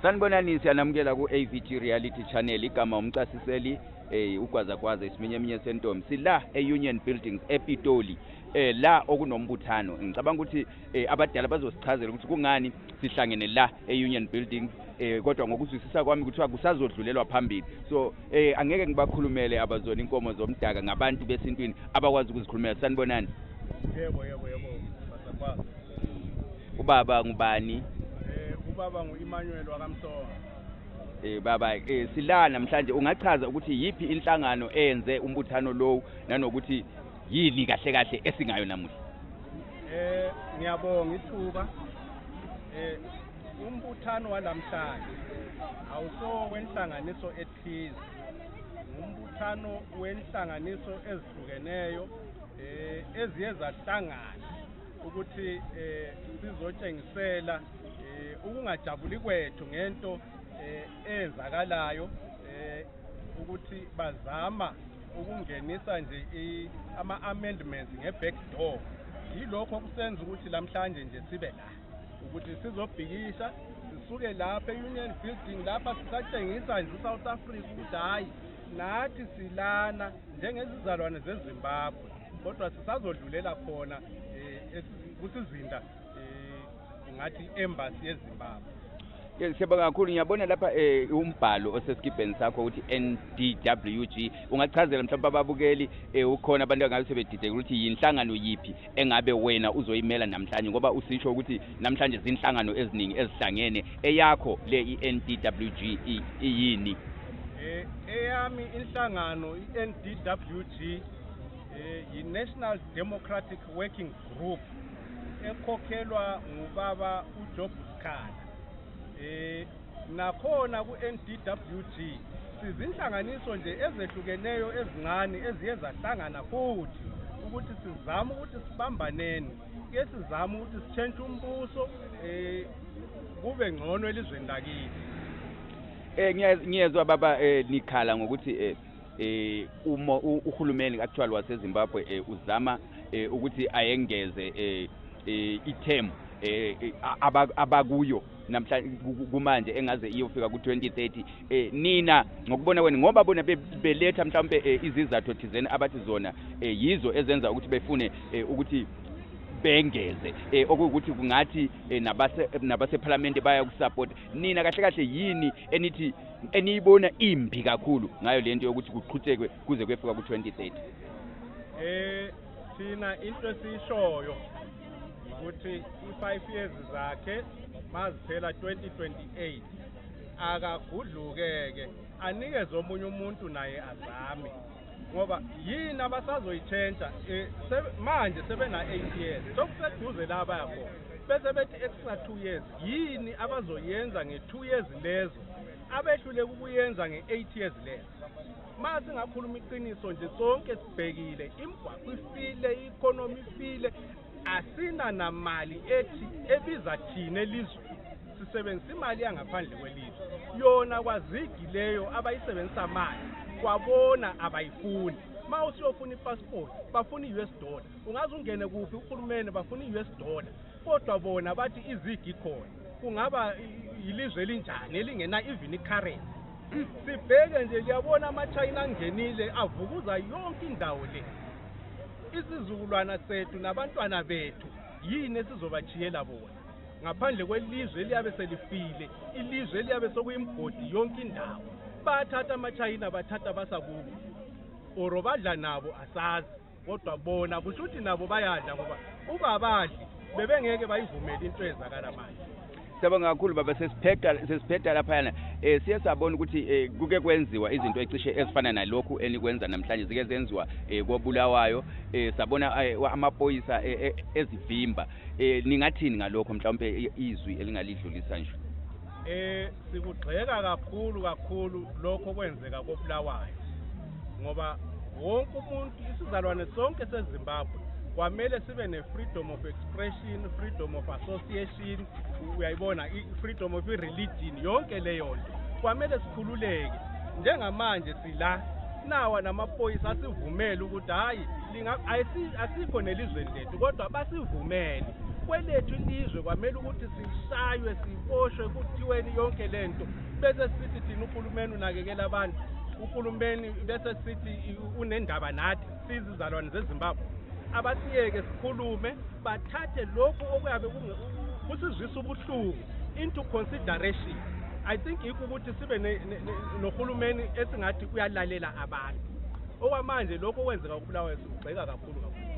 sanibonani siyanamukela ku-avg reality channel igama umcasiseli um eh, ugwazagwaza isiminye eminye sentombi sila e-union buildings epitoli eh la okunombuthano ngicabanga ukuthi eh, abadala bazosichazela ukuthi kungani sihlangene la e-union buildings eh kodwa ngokuzwisisa kwami kuthiwa kusazodlulelwa phambili so eh angeke ngibakhulumele abazona inkomo zomdaka ngabantu besintwini abakwazi ukuzikhulumela sanibonani yebo yebo yebo Ubaba ngubani? Eh ubaba nguImmanuel wakamsoka. Eh baba eh sila namhlanje ungachaza ukuthi yipi inhlangano eyenze umbuthano lowu nanokuthi yini kahle kahle esingayo namuhla? Eh ngiyabonga ithuba. Eh umbuthano walamhlanje awuso wenhlanganiso ethize. Umbuthano wenhlanganiso ezihlukeneyo eh eziye zahlangana ukuthi eh, sizotshengisela eh, ukungajabuli kwethu ngento eh, eyenzakalayo eh, ukuthi bazama ukungenisa nje ama-amendments nge-back door yilokho okusenza ukuthi lamhlanje nje sibe la ukuthi sizobhikisha sisuke lapha e-union building lapha sisatshengisa nje usouth africa ukuthi hhayi nathi silana njengezizalwane zezimbabwe kodwa sisazodlulela khona eh, kusizinda eh, ngathi embassy yezimbabwe siyabonga kakhulu ngiyabona lapha um umbhalo osesikibheni sakho ukuthi ndwg ungachazela mhlawumbe ababukeli um ukhona abantu angabe sebedideka ukuthi yinhlangano yiphi engabe wena uzoyimela namhlanje ngoba usisho ukuthi namhlanje zinhlangano eziningi ezihlangene eyakho le i-n d w g iyini eyami inhlangano i-NDWG eh, yi-national democratic working group ekhokhelwa ngubaba ujob sikhala eh, um nakhona ku-n d w g sizinhlanganiso nje ezehlukeneyo ezincane eziye zahlangana futhi ukuthi sizame ukuthi sibambaneni ke sizame ukuthi sitshentshe umbuso um kube ngcono elizweni lakithi um ngiyezwa baba um nikhala ngokuthi um eh uma uhulumeni actual waseZimbabwe eh, uzama eh, ukuthi ayengeze eh, eh ithemu eh, eh abakuyo namhlanje kumanje engaze iyofika ku-2030 eh nina ngokubona kwenu ngoba bona beletha mhlawumbe eh, izizathu thizeni abathi zona eh, yizo ezenza ukuthi befune eh, ukuthi bengeze eh, okuwukuthi kungathi eh, nabase nabasephalamende bayakusapota nina kahle kahle yini enithi eniyibona imbi kakhulu ngayo lento yokuthi kuqhuthekwe kuze kwefika ku-2030 eh thina into esiyishoyo ukuthi i-five years zakhe maziphela 2028 akagudlukeke anikeze omunye umuntu naye azame ngoba yini abasazoyitshentsha eh, manje sebena-eight years sokuseduze la bayakhona bese bethi extra two years Yini abazoyenza nge-2 years lezo abehluleka ukuyenza nge-8 years lezo? Uma singakhuluma iqiniso nje sonke sibhekile imigwaqo ifile, i-economy ifile, asina namali ethi ebiza thina elizwe sisebenzisa imali yangaphandle kwelizwe yona kwazigi leyo abayisebenzisa manje kwabona abayifuni uma usuyofuna ipassport bafuna i-us dollar ungaze ungene kuphi uhulumeni bafuna i-us dollar kodwa bona bathi izigi khona kungaba yilizwe elinjani elingena even icurrency sibheke nje liyabona amachina angenile avukuza yonke indawo le isizukulwana sethu nabantwana bethu yini esizobajiyela bona ngaphandle kwelizwe eliyabe selifile ilizwe eliyabe sokuyimgodi yonke indawo bathatha amachina bathatha basakubo or badla nabo asazi kodwa bona kusho ukuthi nabo bayadla ngoba uba abadli bebengeke bayivumele into eyenzakala manje siyabonga kakhulu baba sesiphetha sesiphetha laphayana eh siye sabona ukuthi eh, kuke kwenziwa izinto ecishe ezifana nalokhu enikwenza namhlanje zike zenziwa eh, kobulawayo eh, sabona eh, amaphoyisa eh, eh, ezivimba eh, ningathini ngalokho mhlawumbe izwi elingalidlulisa nje Eh sikugxeka kakhulu kakhulu lokho kwenzeka kobulawayo ngoba wonke umuntu isizalwane sonke seZimbabwe kwamele sibe ne-freedom of expression freedom of association uyayibona i-freedom of i-religion yonke leyo nto kwamele sikhululeke njengamanje sila nawa namaphoyisa asivumele ukuthi hhayi asikho nelizweni lethu kodwa basivumele kwelethu ilizwe kwamele ukuthi sishaywe siboshwe kuthiweni yonke le nto bese sithi thina uhulumeni unakekela abantu uhulumeni bese sithi unendaba nathi sizizalwane zezimbabwe abasiyeke sikhulume bathathe lokhu okuyabe kusizwisa ubuhlungu into consideration i think yikho ukuthi sibe nohulumeni esingathi uyalalela abantu okwamanje lokhu okwenzeka kubulawayo sikugxeka kakhulu kakhulu